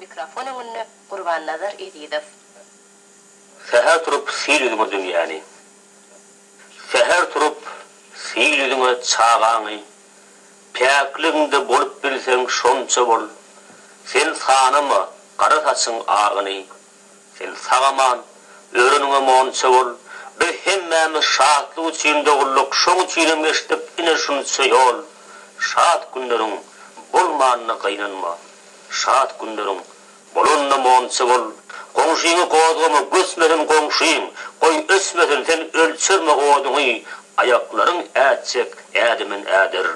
Mikrofon öňünde Gurbannazar Ezizow. Säher turup sil ýüzüňe dünýäni. Säher turup sil ýüzüňe çagaňy. Päkligiňde bolup bilseň şonça bol. Sen sanama gara saçyň agyny. Sen sag-aman, öreniňem onça bol. Biz hemmämiz şatlyk üçin dogulduk, şoň üçinem geçdik ine şunça ýol. Şat günleriň bolmanyna gynanma. Şat günleriň bolanynam onça bol. Goňşyňy gozgama, göçmesin goňşyň, goý öçmesin, sen ölçerme oduňy, aýaklaryň ätjek ädimin äder.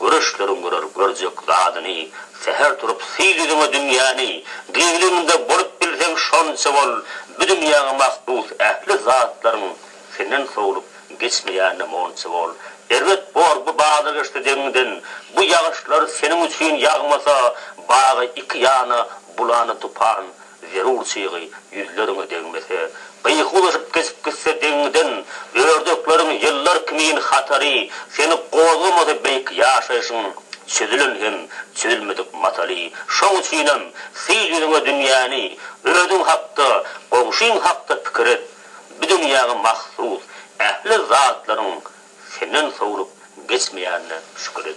Göreşleriň görer görjek zadyny, Säher turup syl ýüzüňe dünýäni, Gizliniňde bolup bilseň şonça bol, Bu dünýäňe mahsus ähli zatlaryň Senden sowlup geçmeýänine monça bol. Erbet bor bu bazar geçse deňiňden, Bu ýagyşlar seniň üçin ýagmasa, Bagy iki ýana bulany tupan, Zerur çygy ýüzleriňe degmese, gyýky uzaşyp geçip gitse deňiňden, Ördekleriň ýyllar kimin hatary, Seni gozgamasa beýik ýaşaýşyň, Çözülen hem çözülmedik mataly. Şoň üçinem, syl ýüzüňe dünýäni, Özüň hakda, goňşyň hakda pikir et, Bu dünýäňe mahsus ähli zatlaryň Senden sowlup geçmeýänine şükür et.